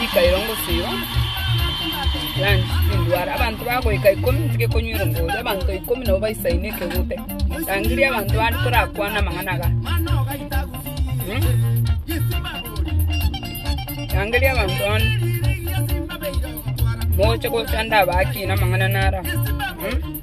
Rika erongo siiro ranch tindwara, abanto bagoika ikomi ntige konywa erongo oria, abanto ikomi nabo baisaine ekegute. Rangiria abanto bande torakwane amang'ana aga. Hmm? Rangiria abanto bande mogoche gocha ndabaakina amang'ana nara. Hmm?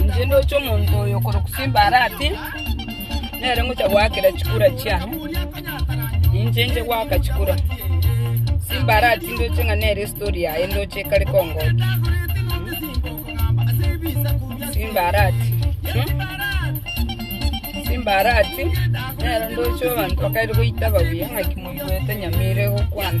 Inche ndoche omonto oyo okorokwa Simbarati, nere ngocha goakera chikura chiane, ninche nche goaka chikura. Simbarati ndoche ng'a nere estori yaye ndoche ekare kongokia. Simbarati, Simbarati, nere ndoche abanto bakaire goitaba buya ng'aki moigwete nyamira egokwana.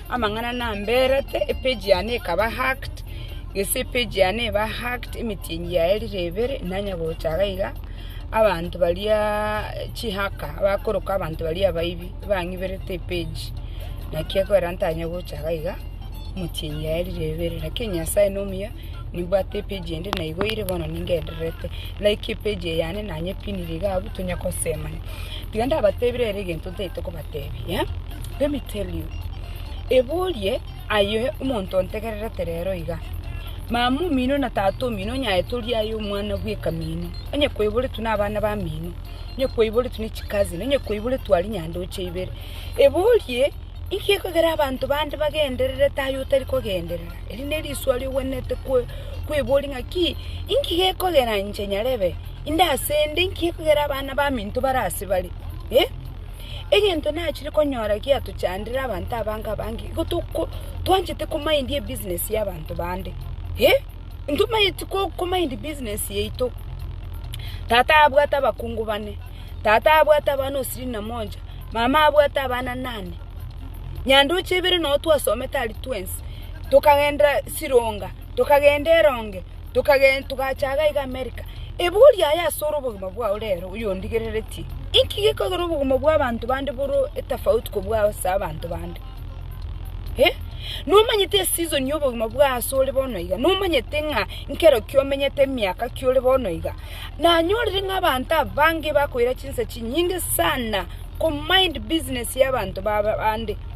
Amang'ana namberete, epage yane ekaba hacked, gese epage yane eba hacked, emetienyi yaye rire ebere, nanya gocha iga iga, abanto baria chihacker bakoroka abanto baria abaibi, bang'iberete epage, naki ekorera ntanye gocha iga iga, emetienyi yaye rire ebere, lakini Nyasae nomuya, nimbwate epage ende naigoire bono ningendererete, like epage eye yane nanyepinire iga abwo tonya kosemania. Tiga ndabatebire ere egento ntaete koba. Tebia, Let me tell you, eborie aye omonto ontegererete rero iga, mama omino na tata omino onye aye tori aye omwana bw'ekamino, onye kwaiboretwe nabana bamino, onye kwaiboretwe ne chicousin, onye kwaiboretwe aria nyandoche ibere. Eborie, inki ekogera abanto bande bagendererete aye otari kogenderera? Eri neriswa riogwenerete kwe- kweboria ng'a ki, inki gekogera inche nyarebe inde asende, inki gekogera abana baminto bare ase bare? Eh? Egento nachire konyora giatochandera abanto abange abange, igo toko twanchete komind ebusiness y'abanto bande. Eh! Ntomanyeti ko komind ebusiness yaito. Tata abwate abakungu bane, tata abwate abana ishirini na moja, mama abwate abana nane, nyandoche ibere nabo twasomete aria twensi, tokagenderaa Sironga, tokagenda Eronge. Tokagenda, togacha iga iga Amerika. Ebori aye asore obogima bwao rero oyondigereretie. Inki gekogera obogima bwa abanto bande bore etafauti kobua ase abanto bande? Eh? Nomanyete eseason ya obogima bwa ase ore bono iga. Nomanyete ng'a nkero kiomenyete emiaka kiore bono iga. Nanyorire ng'a abanto abange bakoira chinsa chinyinge sana ko mind business ya abanto baba bande.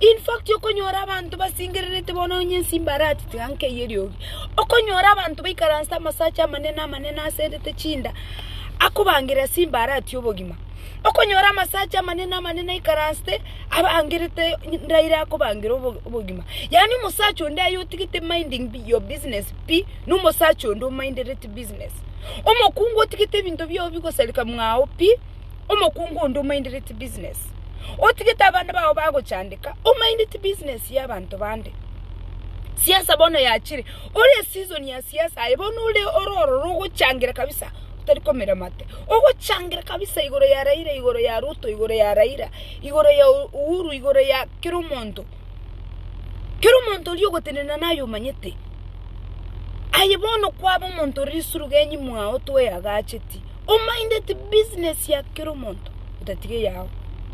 In fact okonyora abanto basengererete bono onye inse imbarati tiga nkeyie eriogi, okonyora abanto baikaransete amasache amanene amanene aserete chinda akobangeria ase imbarati obogima. Okonyora amasache amanene amanene aikaransete abangerete ndaire akobangeria obo- obogima. Yaani omosacha onde aye otigete minding bi- your business pi na omosacha onde omindereti business. Omokungu otigete ebinto biogo bigosareka mwago pi. omokungu onde omaindedeti business, otigete abana bao bagochandeka, omaindeti business ya abanto bande. Siasa bono yachire, ore eseason ya siasa aye bono ore ore ororo ogochangera kabisa otari komira mate, ogochangera kabisa igoro ya Raila, igoro ya Ruto, igoro ya Raila, igoro ya U- Uhuru, igoro ya kera omonto. Kera omonto oria ogotenena naye omanyete. Aye bono kwaba omonto ore risurugenyi mwao toyagacheti. Ominded business ya kera omonto otatiga eyao.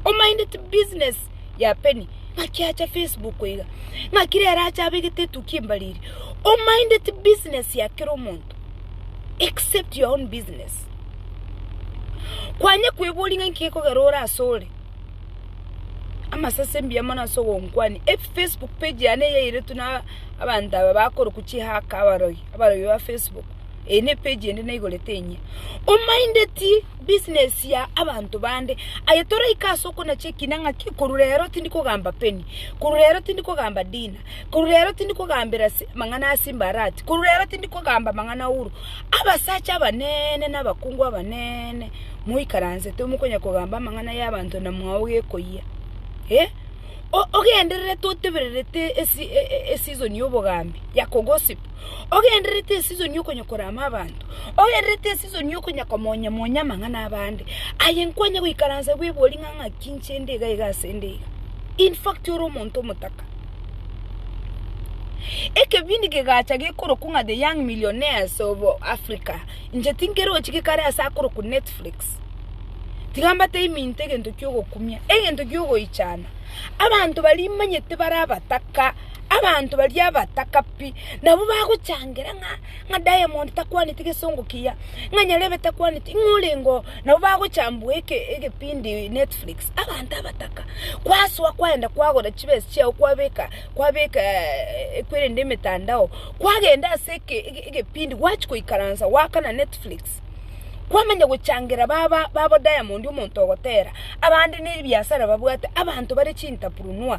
Ominded business ya Penny ng'aki acha Facebook iga, ng'aki rero acha abegete etukia embariri. Ominded business ya kera omonto except your own business. Kwanye kweboria ng'a inki gekogera ore ase ore amasase mbuya mono ase ogonkwania. Facebook page yane eyairetwe na abanto aba bakoroku chihaka abarogi, abarogi ba Facebook. Eye ne page ende naigorete inye. Omaindeti business ya abanto bande. Aye toraika ase okonacha ekina ng'a ki korwa rero tindi kogamba penny. Korwa rero tindi kogamba dinner. Korwa rero tindi kogambera si amang'ana a simba arati. Korwa rero tindi kogamba amang'ana Uhuru. Abasacha abanene na abakungu abanene moikaransete omokonya kogamba amang'ana ya abanto na mwao gekoyia. Eh ogendererete otebererete esi e- e- e- season ya obogambi ya ko gossip. ogendererete esisoni okonya korama abanto, ogendererete esisoni okonya komonya monya amang'ana abande, aye nkwanya goikaransa bwebori ng'a ng'aki inche nde iga iga ase nde iga. In fact ore omonto omotaka. Ekebindi kegacha gekorokwa ng'a the young millionaires of Africa, inche tinkerochi gekare ase akorokwa Netflix, tiga mbate iminto egento kiogokumia, egento kiogoichana, abanto baria imanyete bare abataka. abanto baria abataka pi nabwo bagochangera ng'a, ng'a Diamond takwaneti gesongo kiya, ng'a Nyarebe takwaneti, ng'a orenge oo, nabo bagochambwa eke egepindi Netflix, abanto abataka. Kwasoa kwaenda kwagora chibesa chiago kwabeka kwabeka kwerende emetandao, kwagenda ase eke egepindi gwachia goikaransa goakana Netflix, kwamanya gochangera baba babo Diamond omonto ogotera, abande nebiasara babwate, abanto bare chintaprunua.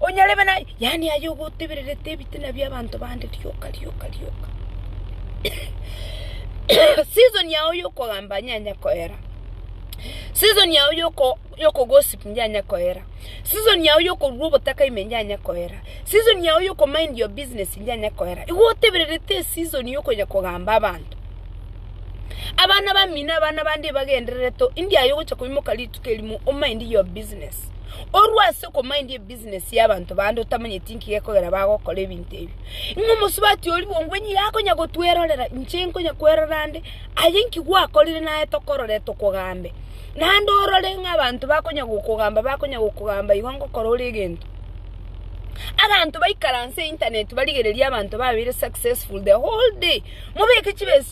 Onyarebe naye, yaani aye ogotebererete ebitina bi'abanto bande rioka rioka rioka. Season yao y'okogamba yanya koera. Season yao yoko yokogossip yanya koera. Season yao yokorua obotaka ime yanya koera. Season yao yoko mind your business yanya koera. Igo otebererete eseason yokonya kogamba abanto. Abana bamino abana bande ebagenderere to, indi aye ogocha koimoka rituko. Elimu omaindi your business. Orue ase okomaindi ebusiness ya abanto bande otamanyeti inki gekogera bagokora ebinto ebio. Ng'a omosubati oria bongwe nigo akonya gotwerorera inche nkonya kwerora ande aye inki gwakorire naye tokorore tokogambe. Naende orore ng'a abanto bakonya gokogamba bakonya gokogamba igo ngokora ore egento. Abanto baikaranse internet barigereria abanto babere successful the whole day mobeke chibesa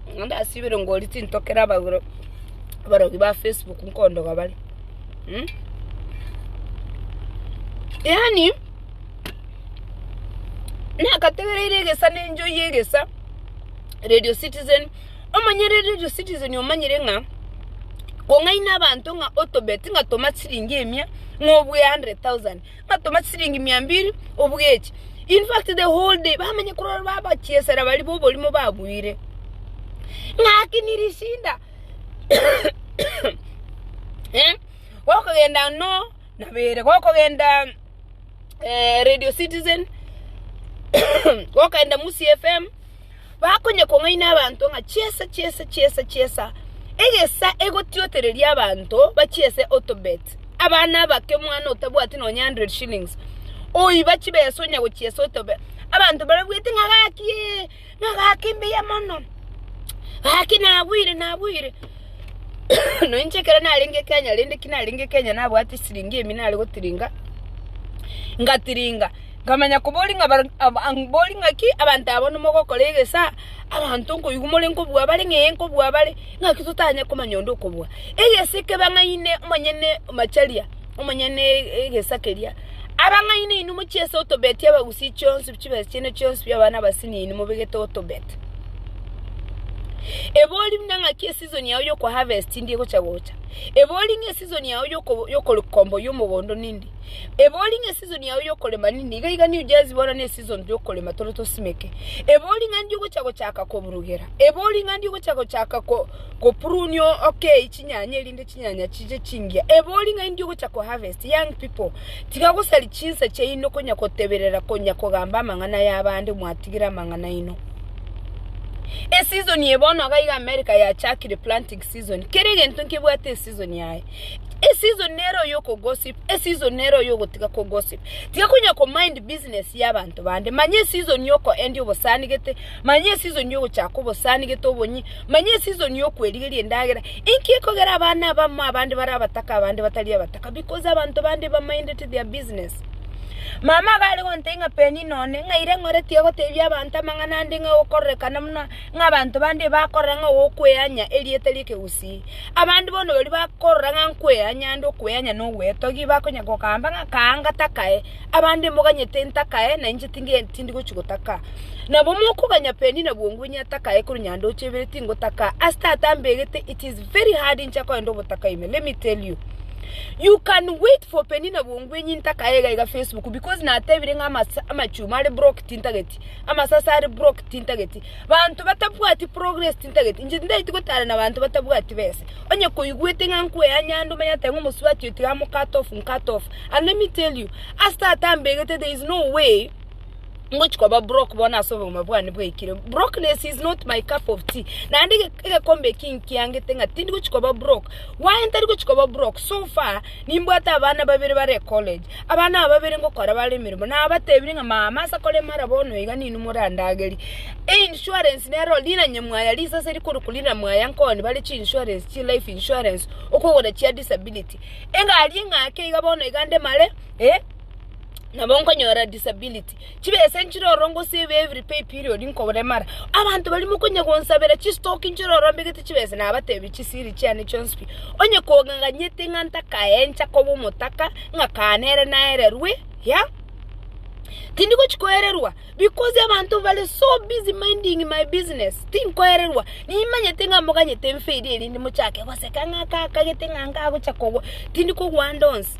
Ndasibire ngoria tintokera abarogi ba Facebook nkondoga bare. Hmm? Yaani nakategereire egesa na enjoy egesa Radio Citizen omanyire Radio Citizen omanyire ng'a kong'aina abanto ng'a otobet ng'a toma chiringi emia ng'a obue 100,000 batoma chisiringi mia mbiri obugechi in fact the whole day bamenye kurora babachiesera bari boborimo babuire ng'aki nirishinda eh gokogenda no nabere gokogenda eh, radio citizen gokenda musi fm bakonyekong'aina abanto ng'a chiesa, chiesa, chiesa, chiesa, egesa egotiotereria abanto bachiese otobet, abana abake, omwana otabwati nonya hundred shillings oiba chibesa onya gochiesa otobet, abanto barabuete ng'a gaki ee, ng'a gaki mbuya mono, gaki nagwire, nagwire, na inche ekero narenge Kenya rende ki narenge Kenya nabwate chisiringi emi nare gotiringa, ngatiringa. nkamanya koboria ng'a barabwo mborie ng'aki abanto aba nimogokora egesa, abanto nkoigwa more nkobua bare ng'a ee nkobua bare, ng'aki totanye komanya onde okobua. Egese kebe ng'aine omonyene Macharia, omonyene egesa keria, abang'aini inwe mochiese otobetia abagusii chionsi chibesa chiane chionsi bia abana abasine inwe mobegete otobet. Ebori buna ng'aki esizon yao yokoharvest ndi egocha gocha, ebori ng'a esizon yao yoko yokorikomba oyo omogondo nindi, Ebori ng'a eseason yao y'okorema nini, nigo iga nigo jazigwa ora n'eseason y'okorema tore tosimeke. Ebori ng'a ndi ogocha gochaka koburugera, ebori ng'a ndi ogocha gochaka ko koprune o- okei chinyanya erinde chinyanya chiche chingiya. Ebori ng'a ndi ogocha ko harvest, young people, tiga gosari chinsa chiaino konya koteberera konya kogamba amang'ana y'abande mwatigire amang'ana aino. Eseason eye bono iga America yachakire planting season, kera egento nkebwate eseason yaye. Eseason nero yoko gossip, eseason nero yogotiga ko gossip. Tiga konya ko mind business ya abanto bande. Manya eseason yoko endia obosanigete, manya eseason yogochaka obosanigete obonyi, manya eseason yokwerigeria endagera. Inki ekogera abana abamo abande bare abataka abande batari abataka? Because abanto bande ba minded their business. Mama iga are gontebia ng'a Penina one, ng'a ira eng'ore tiga gotebia abanto amang'ana ande ng'a ogokororekana buna ng'a abanto bande ebakorora ng'a ogokweanya erieta ri'ekegusii. Abande bono baria bakorora ng'a nkweanya ande okweanya na ogwetogia igo bakonya gokamba ng'a kaa ngatakae, abande moganyete ntakae na inche tinge tindi gochia gotaka. Nabo mokoganya Penina bwongo inye atakae korwa nyanda oche ibere tingotaka, ase tata ambegete it is very hard inche akoenda ogotaka ime let me tell you. You can wait for Penina bwongo inye ntakae iga iga Facebook because natebire ng'a amachuma are broke tintageti, amasase are broke tintageti. Banto batabwati progress tintageti, inche tindaeti gotara na banto batabwati besa. Onye koigwete ng'a nkweyanya ande omanyete ng'a omosubati oyo tiga amocut off, ncut off. And let me tell you, ase tata ambegete there is no way ngochi koba broke bono ase obogima bwane bwaikire. Brokeness is not my cup of tea. Naende ege egekombe eki nkiangete ng'a tindi gochi koba broke. Why ntari gochi koba broke? So far, nimbwate abana babere bare college. Abana ababere ngokora bare emeremo, nabatebirie ng'a mama ase korema ara bono iga ninwe morandagerie. Einsurance nero riranye mwaya risase rikorokwa rina mwaya nkoni bare chinsurance chi life insurance okogora chia disability. Engari eng'ake iga bono iga ndemare, eh, nabo nkonyora disability. Christ, chibe ase enchirororo gose ebe every pay period nkoboremara. Abanto baria mokonya gonsabera chistoki nchirorombe gete chibesa nabatebie chisiri chiane chionsi pi. Onye kogang'anyete ng'a ntakaencha koba omotaka ng'a kaa nere naererwe, ya? Tindi gochi koererwa because abanto bare so busy minding my business tinkoererwa. Nimanyete ng'a moganyete mferi erinde mochake goseka ng'a aka akagete ng'a nkagocha kogwa tindi kogwa ande onsi.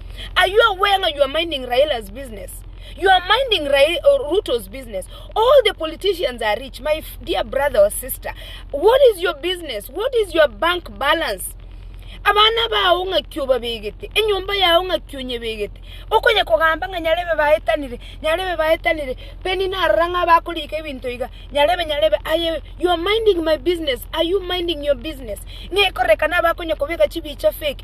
Are you aware ng'a you are minding Raila's business? You are minding Rai, uh, Ruto's business. All the politicians are rich, my f- dear brother or sister. What is your business? What is your bank balance? abana bao ng'aki obabegete enyomba yao ng'aki onyebegete okonya kogamba ng'a nyarebe baetanire nyarebe baetanire peni narora ng'a bakorika ebinto iga nyarebe nyarebe aye you are minding my business are you minding your business ng'ekorekana abakonya kobeka chibicha fake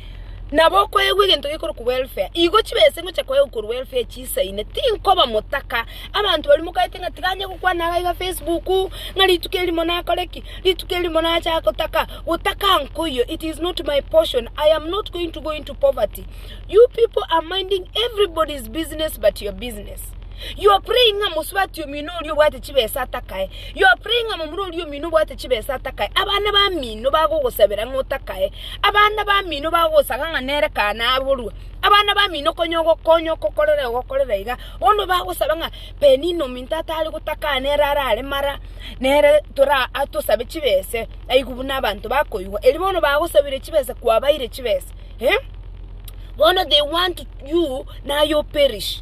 nabo okoegwa egento gekorokwa welfare, igo chibese ngocha koegwa korwa welfare chisaine, tinkoba motaka, abanto baria mokorete ng'a tiga anye gokwana iga iga facebook, ng'a rituko erimo nakore ki, rituko erimo nacha gotaka, gotaka nkoiyo, it is not my portion, i am not going to go into poverty, you pipo are minding everybody's business but your business, you are praying ng'a mosubati omino oria obwate chibesa atakae. Yopre ing'a momura oria omino obwate chibesa atakae, abana bamino bagogosabera ng'a otakae, abana bamino bagogosaga ng'a nere kaa naborwe, abana bamino konya ogokonya okokorera iga ogokorera iga, bono bagosaba ng'a Penina ominto atare gotaka aa nere arare mara, nere tora atosabe chibese aigwe buna abanto bakoigwa, erio bono bagosabire chibesa kwabaire chibesa eh, bono they want you naye operish.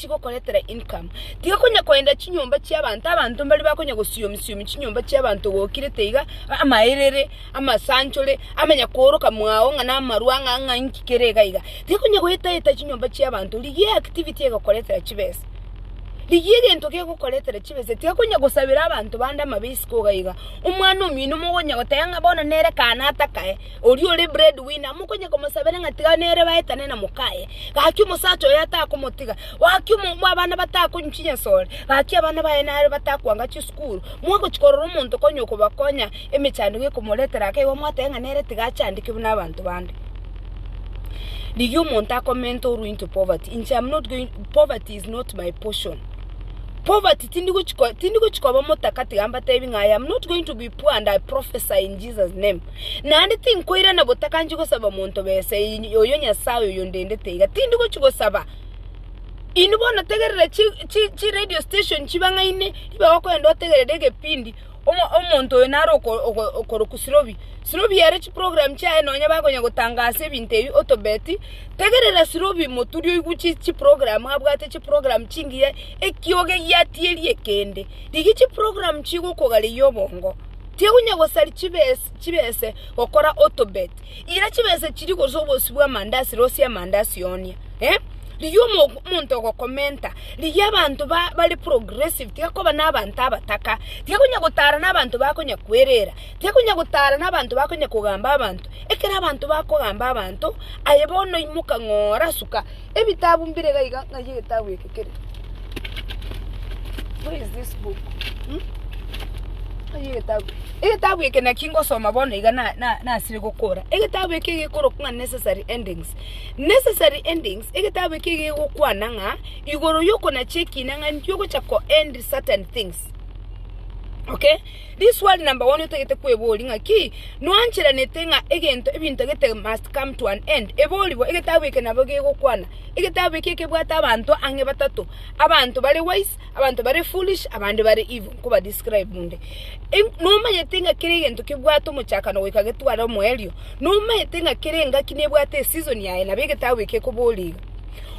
chigokoretera income. Tiga konya koenda chinyomba chiabanto, abanto mbari bakonya gosiomi siomi chinyomba chiabanto gokirete iga, amaerere, amasanchore, amanya kooroka mwao ng'a namarwa ng'a ng'a inki kere iga iga. Tiga konya goeta eta chinyomba chiabanto, rigia eactivity egokoretera chibesa. Rigia egento gegokoretera chibesa, tiga konya gosabera abanto bande amabia isiko iga iga. Omwana omino mogonya goteba ng'a bono nere kaana atakae. Oria ore bread winner mokonye komosabera ng'a tiga nere baetane na mokaye. Gaki omosacha oye atakomotiga. Gaki omo abana batakonywa chinyasore. Gaki abana baye naro batakwanga chisukuru. Mwagochi korora omonto konya okobakonya emechandego ekomoretera ake igo mwateba ng'a nere tiga achandekigwe na abanto bande. Rigia omonto akomente orue into poverty. Inche am not going poverty is not my portion. Poverty tindi gochi ko tindi gochi koba motaka tiga mbatebi ng'a I am not going to be poor and I prophesy in Jesus name. Naende tinkoirana botakanchi gosaba monto besa, oyo Nyasae oyondendete iga. Tindi gochia gosaba inwe bono tegerera chi chi chi radio station chibang'aine ibe okoenda otegerere egepindi omo omonto oyo naro oko oko okorokwa Sirobi. Sirobi ere chiprogram chiaye nonya bakonya gotangasa ebinto ebi otobeti, tegerera Sirobi moturi oigwe chi chiprogram abwate chiprogram chingiya, ekioge giatieri ekende. Rigia chiprogram chigokogareyia obongo. Tigonya gosari chibese gokora otobet, ira chibese chiria gose obosie bwa amandasi rosie amandasi one. Eh? Rigia omonto ogokomenta, rigia abanto bare progressive, tiga koba na abanto abataka, tiga konya gotara na abanto bakonya kwerera, tiga konya gotara na abanto bakonya kogamba abanto, ekero abanto bakogamba abanto, aye bono imoka ng'ora suka. Ebitabu mbire iga iga, ng'ai egetabu eke kere? Where is this book? Hmm? Ng'ai egetabu? Egetabu eke naki ngosoma bono iga na- na- nasire gokora. Egetabu eke gekorokwa ng'a necessary endings. Necessary endings, egetabu eke gegokwana ng'a igoro yokona chiekina ng'a nki ogocha ko-end certain things. Okay? Riswali number one otagete kweboria ng'aki nwancheranete ng'a egento ebinto gete must come to an end. Eborigwe egetabu eke nabo gegokwana. Egetabu eke kebwate abanto ang'e batato, abanto bare wise, abanto bare foolish, abande bare evil nkoba describe onde. Em, nomanyete ng'a kera egento kebwate omochakano goika getware omoerio. Nomanyete ng'a kera engaki nebwate eseason yaye nabo egetabu eke ekobora iga.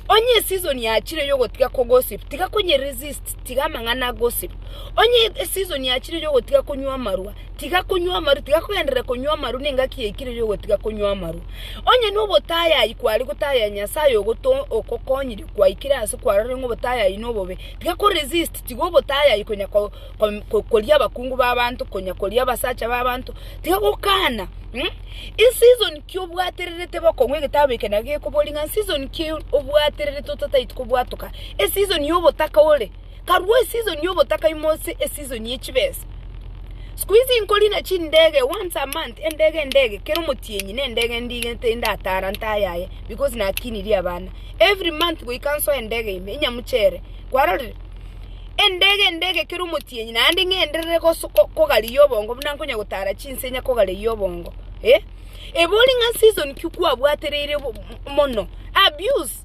Onye eseason yachire yogotiga kogossip, tiga konyeresist, tiga amang'ana a gossip. Onye eseason yachire yogotiga konywa amarwa, tiga konywa amarwa, tiga kogenderera konywa amarwa, nengaki yaikire yogotiga konywa amarwa. Onye nobotayayi kware gotayaya Nyasaye ogoto ogokonyirie kwaikire ase kwarorire ng'a obotayayi nobobe, tiga ko resist, tiga obotayayi konya ko ko koria abakungu b'abanto, konya koria abasacha b'abanto, tiga gokana mh. Eseason ki obwatererete bokong'u egetabu eke naki gekoboria ng'a season ki obwatererete otataeti kobwatoka, eseason yobotaka ore. karua esizoni y'obotaka ime ase esizoni ye chibesa. Siku hizi inkorina chindege once a month, endege endege, kera omotienyi na endege endige tinde atara ntayaye because nakinirie abana. Every month goika nsoe endege ime, inyamuchere. Kwarorire? Endege endege kera omotienyi naende ng'enderere goso- ko- kogariyia obongo buna nkonya gotara chinse inya kogareyia obongo. Eh? Ebe ore ng'a season ki kwabwatereire bo- mono, abuse.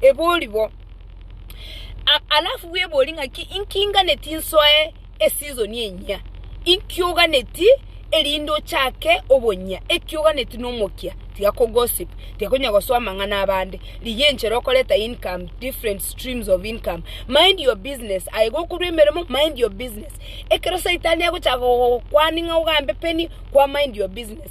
ebori bo. A- alafu bwebori ng'aki inki inganeti nsoe esizoni enyia inki oganeti erinde ochake obonyia eki oganeti na omokia tiga kogosip tiga konya gosoa amang'ana abande rigia enchera okoreta income different streams of income mind your business aye gokorwa emeremo mind your business ekero saitani agochaka gogokwani ng'a ogambe peni kwa mind your business.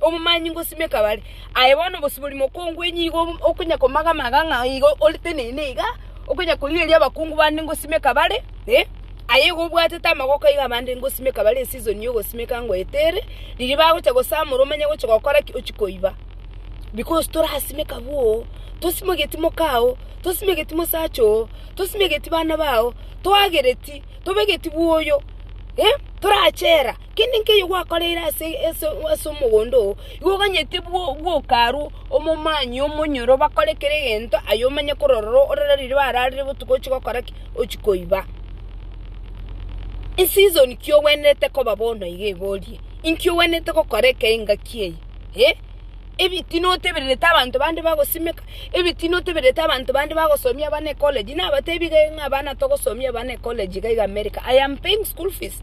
Omomanyi ngosimeka bare. Aye bono obosibori mokongu onye igo okonya komagamaga ng'a igo ore tenene iga, okonya korigereria abakungu bande ngosimeka bare, eh, aye igo obwatete amagoko aiga abande ngosimeka bare esizon ya ogosimeka ngoeta ere, riria bagocha gosamora omanye gochi gokora ki? Ochi koiba. Because torasimeka bwoo, tosimegeti moka oo, tosimegeti mosacha oo, tosimegeti bana bao, toagereti, tobegeti bwoyo, eh, torachera. Kende nkeyio gwakoreire ase omogondo oo, igo oganyete bwoka arwo omomanyie omonyoro bakore kera egento aye omanye korora ororo orere riria bararire botuko ochie gokora ki? Ochie koiba. Eseason ki ogwenerete koba bono iga iga orie? Inki ogwenerete gokora eke engaki eye? Eh, ebitina otebererete abanto bande bagosimeka? Ebitina otebererete abanto bande bagosomia abana ecollege? Nabatebi iga ng'a abana togosomia abana ecollege iga iga America, I am paying school fees.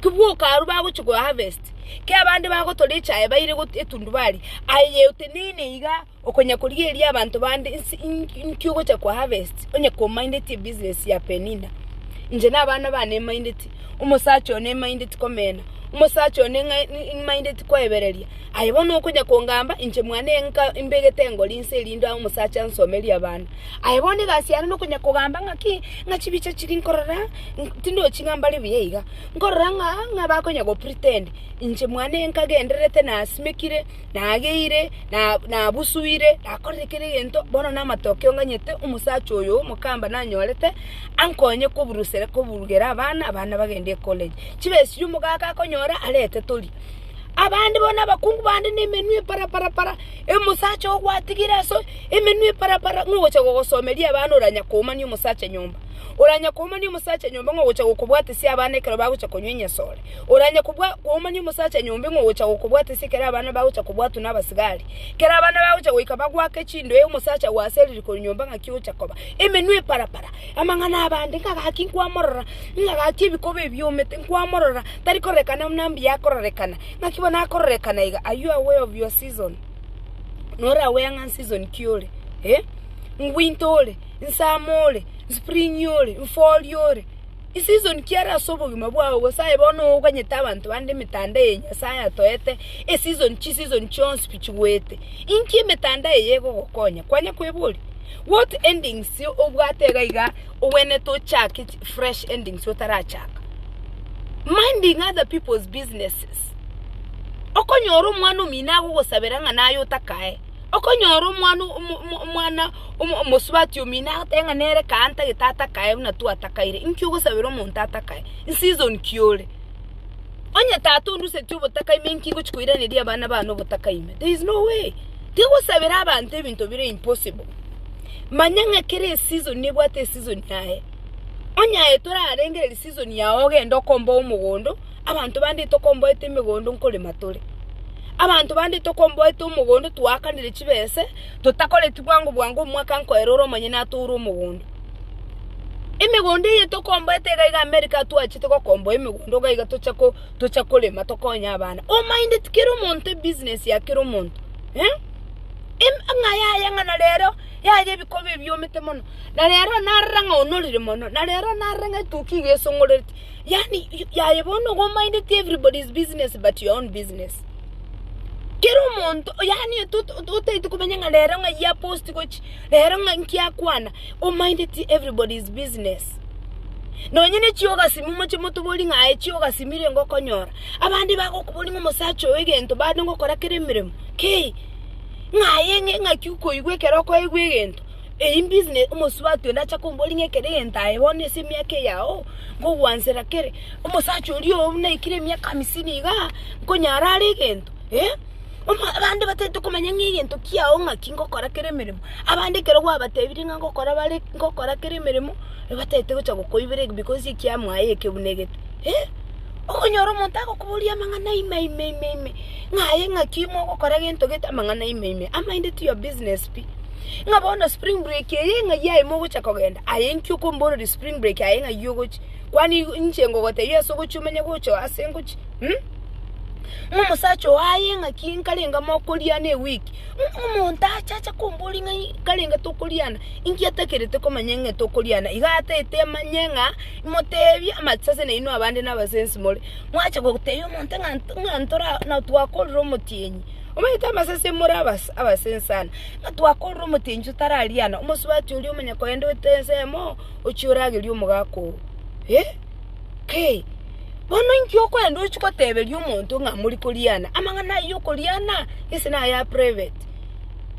kibwoka arwa bagochia go harvest, kera abande bagotora echaye baire go etundubari, aye yeteneine iga okonya korigereria abanto bande nse inki inki ogocha ko harvest onye komaindeti ebusiness ya Penina. Inche na abana bane nmaindeti, omosacha one nmaindeti komena, omosacha one ng'a ng'a nmaindeti koebereria, aye bono okonya kongamba inche mwane nka mbegete engori nse erinde omosacha ansomerie abana. Aye bono egasi yane nokonyakogamba ng'aki, ng'a chibicha chiria nkorora tindochi ng'a mbare buya iga. Nkorora ng'a ng'a bakonyagopretend inche mwane nkagendererete nasimekire, nageire, na nabusuire, nakorire kera egento, bono namatokeo nganyete omosacha oyo omokamba nanyorete ankonye koburusere koburugera abana, abana bagende ecollege. Chibe esiri omogaka akonyora arete toria. Abande bono abakungu bande nemenwa epara para para. Omosacha ogwatigire ase emenwa eparapara ng'a ogocha gogosomeria abana oranya koumania omosacha nyomba. Oranya koumania omosacha nyomba ng'a ogocha gokobwatesia abana ekero bagocha konywa enyasore. Oranya kobwa- koumania omosacha nyomba ng'a ogocha gokobwatesia ekero abana bagocha kobwatwa nabasigari. Ekero abana bagocha goika bagwake chindoe omosacha ogo ase eririko rinyomba ng'aki ogocha koba. Emenwa eparapara. Amang'ana abande ng'a gaki nkwamorora, ng'a gaki ebikoba ebiomete nkwamorora, tari kororekana buna mbuya akororekana. Naki bono akororekana iga, Are you aware of your season? Nore aware ng'a nseason ki ore? Eh? Ngwinta ore? Nsama ore? Nspring ore? Nfall ore? Nseason ki are ase obogima bwao? Gose aye bono oganyete abanto bande emetanda eye Nyasae atoete, eseason chiseason chionsi pi chigoete. Inki emetanda eye egogokonya? Kwanya kweboria? What endings obwate iga iga ogwenerete ochake chi. fresh endings otarachaka minding other people's businesses okonyora omwana omino agogosabera ng'a naye otakae, okonyora omwana omwana omosubati omino agoteba ng'a nere kaa ntagete atakae buna twatakaire, inki ogosabera omonto atakae? Season ki ore? Onye tata oruseti obotaka ime inki ngochi koiraneria abana bane obotaka ime? There is no way, tigosabera abanto ebinto bire impossible. Manya ng'a kera eseason nebwate eseason yaye. Onye aye torarengererie season yao ogende okomboe omogondo, abanto bande tokomboete emegondo nkorema tore. Abanto bande tokomboete omogondo twaakanire chibese, totakoreti bwango bwango omwaka nkoera ore omonyene atoure omogondo. Emegondo eye tokomboete iga iga America atwachete gokomboa emegondo iga iga toche ko toche korema tokonye abana. Omaindeti kera omonto ebusiness ya kera omonto eh. Emang'a yaye ng'a na rero yaye ebikoba ebiomete mono, na rero narora ng'a onorire mono, na rero narora ng'a etoki iga esong'orereti, yaani yaye bono igo omaindeti everybody's business but your own business. Kera omonto yaani tot- tot- totaeti komanya ng'a rero ng'a eyio aposti gochi, rero ng'a nki akwana, omaindeti everybody's business. Nonye ne chiogasimu moche motoborie ng'a aye chiogasimi renge okonyora, abande bagokoboria ng'a omosacha oyo egento bande ngokora kera emeremo, kei. ng'a aye ng'e ng'aki okoigwa ekero okoigwa egento, eyi mbusine omosubati onde acha komboria ng'a ekero egento aye bono ase emiaka eyao, ngogwansera kere, omosacha oria oo buna aikire emiaka hamisini igaa, nkonyara are egento eh? Omo abande batagete komanya ng'a egento kiao ng'aki ngokora kera emeremo, abande ekero gwabatebirie ng'a ngokora bare ngokora kera emeremo, nigo batagete gocha gokoibera eg because ekiamo aye eke buna egete eh? Okonyora omonto agokoboria amang'ana ime ime ime ime, ng'a aye ng'aki ime ogokora gento gete amang'ana ime ime, am I into your business pi? Ng'a bono spring break eye ng'a eyio aye mogocha kogenda, aye inki okomboreria spring break aye ng'a eyio ogochi? Kwani inche ngogotebia ase ogochi omenye gocha ase ngochi? Mh? Ng'a omosacha ogo aye ng'aki nkarenge mokoriana eweek, ng'a omonto ache ache komboria ng'a nkarenge tokoriana, inki atakerete komanya ng'a tokoriana, iga ataete amanye ng'a. Imoteebie amache ase nainwe abande nabasensi more, mwacha goteebia omonto ng'a ng'a ntora na twakorire omotienyi. Omanyete amasese more abase abasensi sana, ng'a twakorire omotienyi totararia ana, omosubati oria omanya kogenda oete ensemo ochia oragerie omogaka oo. Eh! Kei! Bono inki okoenda ochia goteberia omonto ng'a mori koria ana? Amang'ana ayio okoria ana gese naye a private.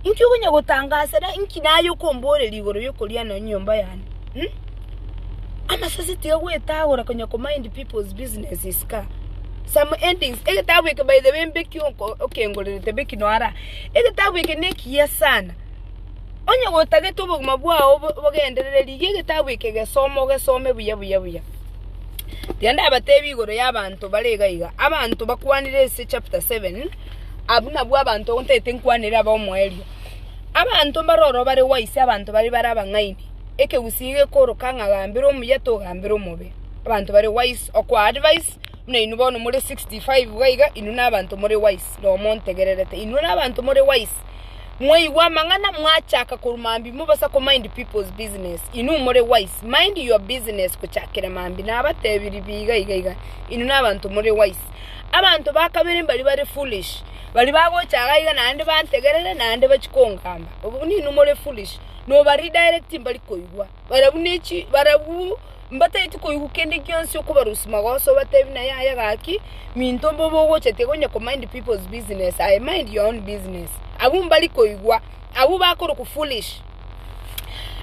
Inki okonya gotangasera inki naye okomboreria igoro yokoria ana enyomba yane? Hm? Amasasi tiga gwetagora konya ko mind people's business is ka. Some endings. Egetabu eke by the way mbeki okengorerete mbeki noara. Egetabu eke nekiya sana. Onye gotagete obogima bwao bogenderere rigia egetabu eke gesoma ogesome buya buya buya. Tiga ndabatebi igoro ya abanto bare iga iga. Abanto bakwanire ase chapter seven abwo nabwo abanto ntagete nkwanere aba omoerio. Abanto mbare oro bare wise abanto bare bare abang'aini. ekegusii gekooroka ng'a gambera omuya togambera omobe. Abanto bare wise okoa advice buna inwe bono more 65 iga iga inwe nabanto more wise noo montegererete inwe nabanto more wise mwaigwa amang'ana mwachaka korwa mambi mobosa ko mind people's business inwe more wise mind your business gochakera mambi nabatebirie pi iga iga iga inwe nabanto more wise abanto bakabere mbari bare foolish bari bagocha iga naende bantegerere naende bachie kongamba obwo buna inwe more foolish. noba redirect mbari koigwa, barabwo ne chi barabwo mbatageti koigwa kende gionsi okobarusia magoso obatebi na yaya gaki minto mbobe ogochete iga onye ko mind people's business aye mind your own business abwo mbari koigwa abwo bakorokwa foolish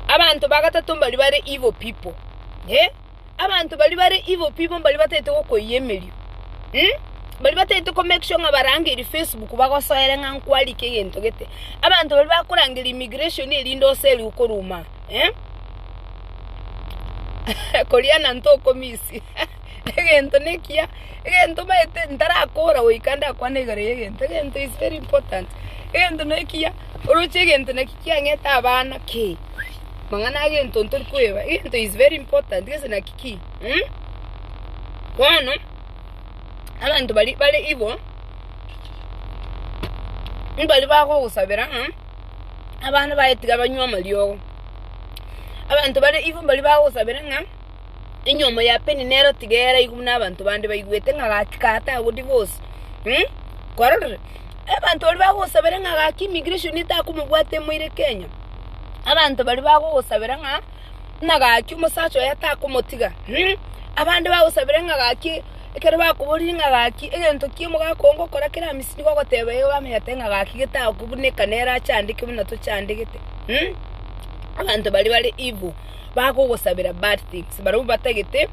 abanto ba gatato mbari bare evil people eh. Abanto baria bare igo pibo mbaria batagete gokoiyia emerio, mbaria batagete ko make sure ng'a barangeiri Facebook bagosoere ng'a nkwarikwa egento gete. Abanto baria bakorangeria immigration erinde oseri okoruma koria na ntokomisia egento nekiya, egento omanyete ntarakora goika ndakwane igoro y'egento, egento is very important, egento nekiya oroche egento naki. Kiang'ete abana ki? Mang'ana agento ntori koeba. Egento is very important gese naki ki? Mh? Bono, abanto bari bare igo, mbari bagogosabera ng'a abana baye tiga banywe amariogo. Abanto bare igo mbari bagosabera ng'a enyomo ya Peninero tiga eraigwe buna abanto bande baigwete ng'a gachika atagoria bose. Mh, kwarorire, abanto baria bagosabera ng'a gaki immigration etakomobwata emoire Kenya, abanto baria bagogosabera ng'a buna gaki omosacha oye atakomotiga, mh, abande bagosabera ng'a gaki ekero bakoborire ng'a gaki egento ki omogaka oo ngokora kera amisi nigo ogoteba ee bamenyete ng'a gaki getagokobuneka nere achandeke buna tochandegete, mh, abanto baria bare evil. bagogosabera bad things barabwo batagete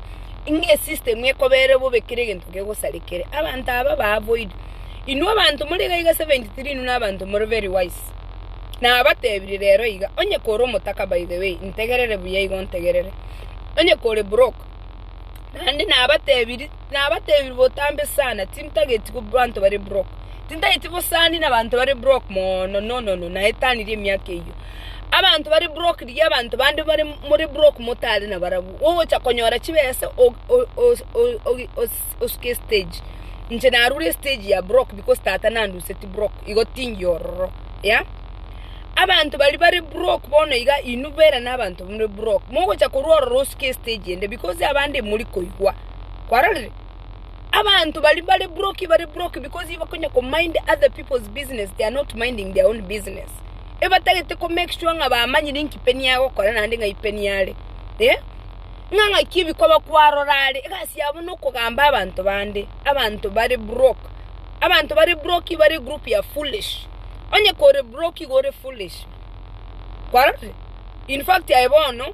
ng'a esystem ekobere bobe kera egento kegosarekere abanto aba ba avoid inwe abanto more iga iga 73 inwe na abanto more very wise nabatebirie rero iga onye kore omotaka by the way integerere buya iga ontegerere onye kore broke naende nabatebirie. Nabateebire botambe sana, tintageti abanto bare brock, tintageti bosani nabanto bare brock mono, nonono, naetanirie emiaka eyio. Abanto bare brock rigia abanto bande bare more brock motare nabarabwo, ogocha konyora chibesa osuke estage. Inche narure estage ya brock because tata nanduseti brock, igo tingiya ororo yeah. Abanto baria bare brock bono iga inwe bera nabanto more brock, mogocha korwa ororo osuke estage ende because abande morikoigwa. kwarorire, abanto baria bare broki bare broki because iba konya ko mind other people's business they are not minding their own business. Ebatagete ko make sure ng'a bamanyire inki peni agokora naende ng'ai peni are. Eh? Ng'a ng'aki ebikoba kwarora are egasi yabo na okogamba abanto bande. Abanto bare broke. Abanto bare broki bare group ya foolish. Onye kore broki igo ore foolish. Kwarorire? In fact aye bono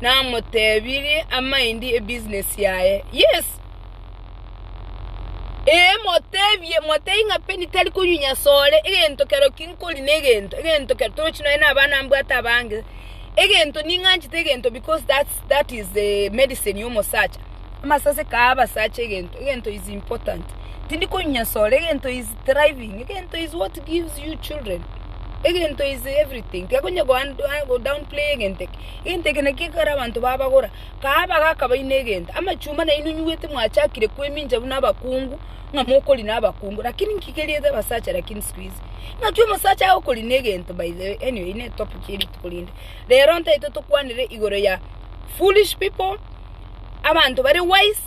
namotebirie amaindi e business yaye. Yes, ee motebie, motebie ng'a Penny tari konywa nyasore, egento kero ki nkori ne egento, egento kero torochi nonya na abana mbwate abange, egento ning'anchete egento because that's that is the medicine ya omosacha. Amasase kaa abasacha egento, egento is important, tindi konywa nyasore, egento is. thriving egento is what gives you children egento is everything tiga konya go down play egento eke egento eke naki ekero abanto babagora kaa bagaka baino egento amachuma naino inywete mwachakire kwemincha buna abakungu ng'a mokori na abakungu lakini nki keriete abasacha lakini siku hizi ng'aki omosacha agokori na egento by the way anyway ne topic ya rituko rinde rero ntaito tokwanere igoro ya foolish people abanto bare wise.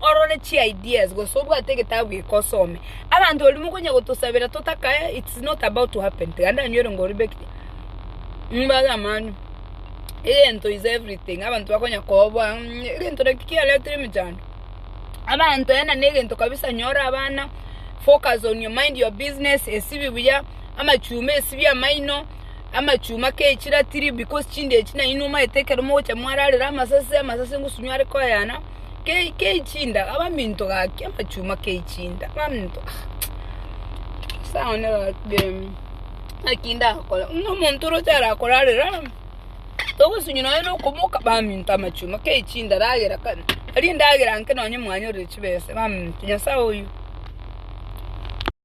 orore chi ideas gose obwate egetabu geke osome. Abanto baria mokonya gotosabera totakae it's not about to happen tiga ndanywere ngo oribekire mbare amani egento is everything abanto bakonya koboa mh egento naki kiaretire emechando abanto ena negento kabisa nyora abana focus on your mind your business esibi buya amachumba esibi amaino. amachuma kechire atirie because chinde echi nainwe omanyete ekero mogocha mwararera amasase, amasase ngosunyi are koyana kei kei chinda abaminto gaki amachuma kei chinda baminto ah nyasae one gaki eh, naki ndakore buna omonto oroche arakorarera togosunywa nonye na okomoka baminto amachuma kei chinda ragera kare aria endagera inke nonye mwanyorire chibesa baminto nyasae oyoo.